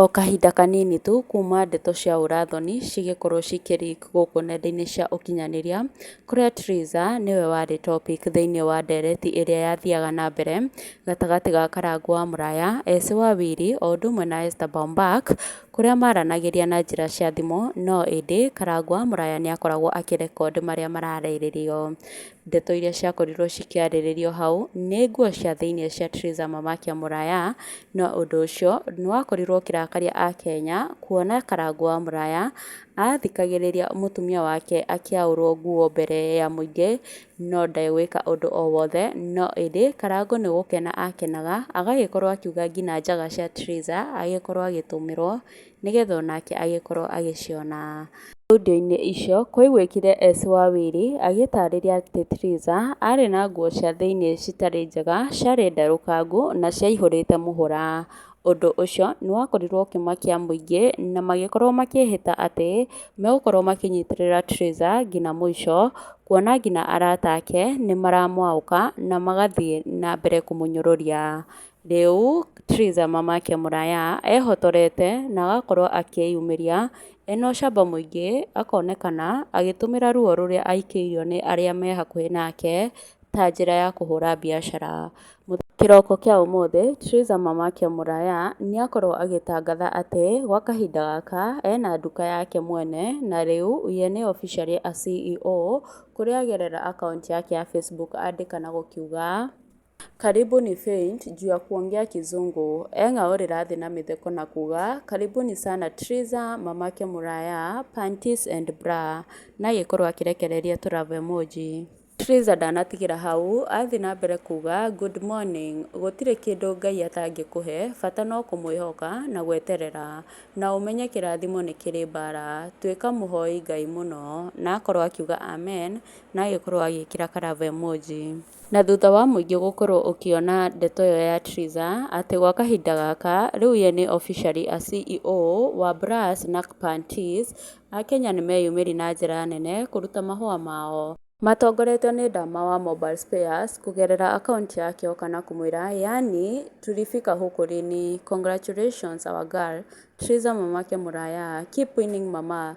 O kahinda kanini tu kuuma ndeto cia ũũra thoni cigĩkorwo cikĩ leak gũkũ nenda-inĩ cia ũkinyanĩria, kũrĩa Theresa nĩwe warĩ topic thĩinĩ wa ndereti ĩrĩa yathiaga na mbere gatagatĩ ga Karangũ wa mũraya, Esĩ wa Wili o ũndũ ũmwe na Esther Bombak, kũrĩa maranagĩria na njĩra cia thimũ no ĩndĩ Karangũ wa mũraya nĩ akoragwo akĩ record marĩa mararĩrĩrio. Ndeto iria ciakorirũo cikĩarĩrĩrio hau nĩ nguo cia thĩinĩ cia Theresa Mamakia Mũraya, no ũndũ ũcio nĩ wakorirũo ũkĩrakaria Akenya kuona Karangũ wa Mũraya athikagĩrĩria mũtumia wake akĩaũrũo nguo mbere ya mũingĩ no ndarĩ gwĩka ũndũ o wothe, no ĩndĩ Karangũ nĩ gũkena akenaga agagĩkorũo akiuga nginya njaga cia Theresa agĩkorũo agĩtũmĩrũo nĩgetha onake agĩkorwo agĩciona. Thaundi-inĩ icio kwaiguĩkire Esĩ wa Wili agĩtaarĩria atĩ Tiriza aarĩ na nguo cia thĩinĩ citarĩ njega, ciarĩ nderũkangu, na ciaihũrĩte mũhũra. Ũndũ ũcio nĩ wakorirwo ũkĩmakia mũingĩ, na magĩkorwo makĩĩhĩta atĩ megũkorwo makĩnyitĩrĩra Tiriza nginya mũico, kuona nginya arata ake nĩ maramũaũka na magathiĩ na mbere kũmũnyũrũria. Rĩu Theresa mamake mũraya ehotorete na agakorwo akĩyumĩria ena ũcamba mũingĩ akonekana agĩtũmĩra ruo rũrĩa aĩkĩirio nĩ arĩa me hakuhĩ nake ta njĩra ya kũhũra biacara. Kĩroko kĩa ũmũthĩ Theresa mamake mũraya nĩ akorwo agĩtangatha atĩ gwa kahinda gaka ena nduka yake mwene na rĩu ye nĩ officially a CEO kũrĩa agerera akaunti yake ya Facebook andĩka na gũkiuga. Karibuni faint juu ya kuongea kizungu eng'a ore radhi na mitheko na kuga karibuni sana triza mamake muraya panties and bra na agĩkorwo akĩrekereria tũ love emoji. Triza ndanatigĩra hau athiĩ na mbere kuga good morning gũtirĩ kĩndũ Ngai atangĩkũhe bata no kũmwĩhoka na gweterera na ũmenye kĩrathimo nĩ kĩrĩ mbara tuĩka mũhoi Ngai mũno na akorwo akiuga amen na agĩkorwo agĩkĩra ka love emoji. Na thutha wa mũingĩ gũkorwo ũkĩona ndeto ĩyo ya Triza atĩ gwa kahinda gaka rĩu ye nĩ officially a CEO wa Brass Nack Panties, Akenya nĩ meyumĩri na njĩra nene kũruta mahũa mao. Matongoretio nĩ Ndama wa Mobile Spares kũgerera akaunti yakĩo kana kũmwĩra yaani tulifika huku lini, congratulations our girl, Triza Mamake Muraya, keep winning mama,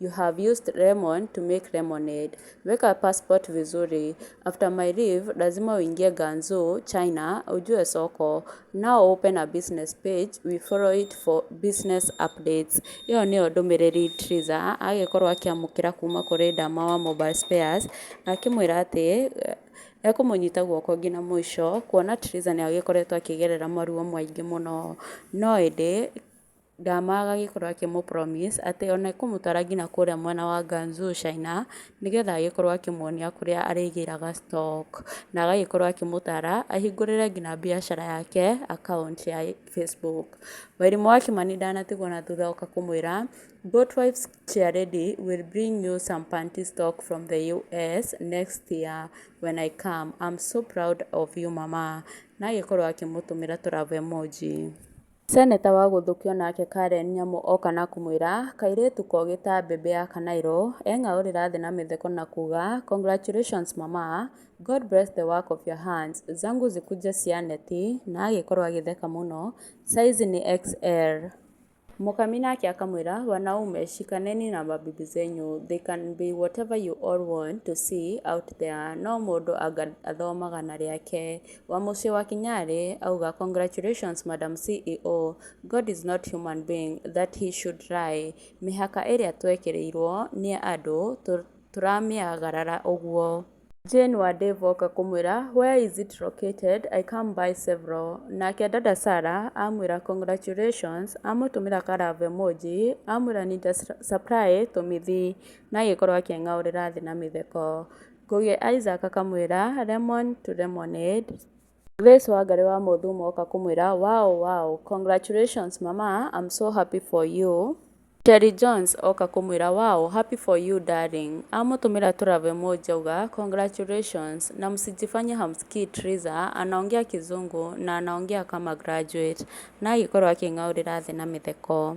You have used lemon to make lemonade. Weka passport vizuri. After my leave, lazima uingie Ganzu, China, ujue soko. Now open a business page, we follow it for business updates. Iyo niyo ndũmĩrĩri Triza agĩkorwo akĩamũkĩra kuma kũrĩ Dama wa Mobile Spares na akĩmwĩra atĩ eh, ekũmũnyita guoko nginya mũico kuona Triza nĩ agĩkoretwo akĩgerera maruo maingĩ mũno no ĩndĩ Ndamaaga agĩkorwo akĩmũ promise atĩ ona ekũmũtwara nginya kũrĩa mwena wa Ganzu China, nĩgetha agĩkorwo akĩmuonia kũrĩa arĩgĩraga stock, na agagĩkorwo akĩmũtara ahingũrĩre nginya mbiacara yake account ya Facebook. Wairimũ wa Kimani ndanatigwo na thutha oka kũmwĩra, Boat Wives Chairlady will bring you some panty stock from the US next year when I come. I'm so proud of you mama. Na agĩkorwo akĩmũtũmĩra tũ love emoji. Seneta wa gũthũkio nake Karen Nyamu oka na kũmwĩra kairĩtu kogĩ ta mbembe ya kanairo, eng'aũrĩra thĩ na mĩtheko na kuga congratulations mama, God bless the work of your hands, zangu zikuje cia neti na agĩkorwo agĩtheka mũno, size ni XL. Mũkami nake akamwĩra wanaume shikaneni na mabibi zenyu they can be whatever you all want to see out there no mũndũ anga athomaga na rĩake, Wa mũciĩ wa Kinyarĩ auga congratulations madam CEO, God is not human being that he should lie, mĩhaka ĩrĩa twekĩrĩirwo nĩ andũ tũramĩagarara ũguo. Jane wa Dave oka kũmwĩra where is it located I come buy several, nake dada Sarah amwĩra congratulations, amũtũmĩra ka love emoji, amwĩra need a supply to Mithi, na agĩkorwo akĩng'aũrĩra thĩ na mĩtheko. Ngugi Isaac akamwĩra, Lemon to lemonade. Grace Wangarĩ wa Mũthũmũ oka kũmwĩra, Wow, wow, congratulations mama, I'm so happy for you. Terry Jones oka kũmwĩra, Wow, happy for you darling. Amũtũmĩra tũ love emoji auga, Congratulations na msijifanye hamsikii Triza anaongea kizungu na anaongea kama graduate. Na agĩkorwo akĩng'aurĩra thĩ na mĩtheko.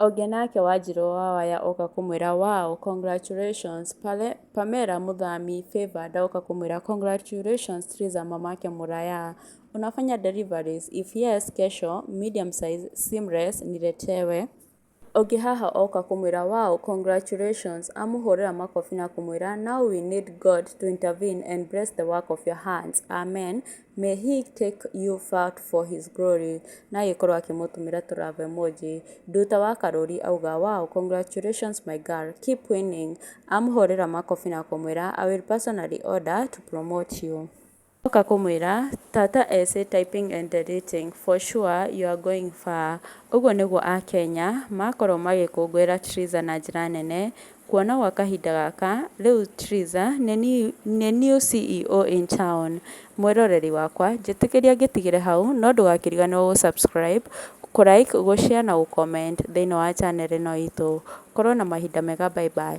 Onge nake wanjirũ wa waya oka kũmwĩra wow congratulations Pamela mũthami favour ndoka kũmwĩra congratulations Theresa mamake mũraya unafanya deliveries? if yes kesho medium size seamless niletewe Onge haha oka kũmwĩra wow congratulations amũhũrĩra makobi na kũmwĩra now we need God to intervene and bless the work of your hands Amen. May he take you far for his glory na agĩkorwo akĩmũtũmĩra tũ love emoji. Nduta wa karũri auga, wow congratulations my girl, keep winning. Amũhũrĩra makobi na kũmwĩra, I will personally order to promote you. Oka kũmwĩra, tata ese typing and deleting, for sure you are going far. Ũguo nĩguo Akenya makoragwo magĩkũngũĩra Triza na njĩra nene Kuona gwa kahinda gaka, rĩu Triza, nĩ niũ CEO in town, mwĩroreri wakwa, njĩtĩkĩria ngĩtigĩre hau, no ndũgakĩriganĩrwo gũ subscribe, kũ like, gũ share na gũ comment thĩinĩ wa channel ĩno itũ. Korwo na mahinda mega bye bye.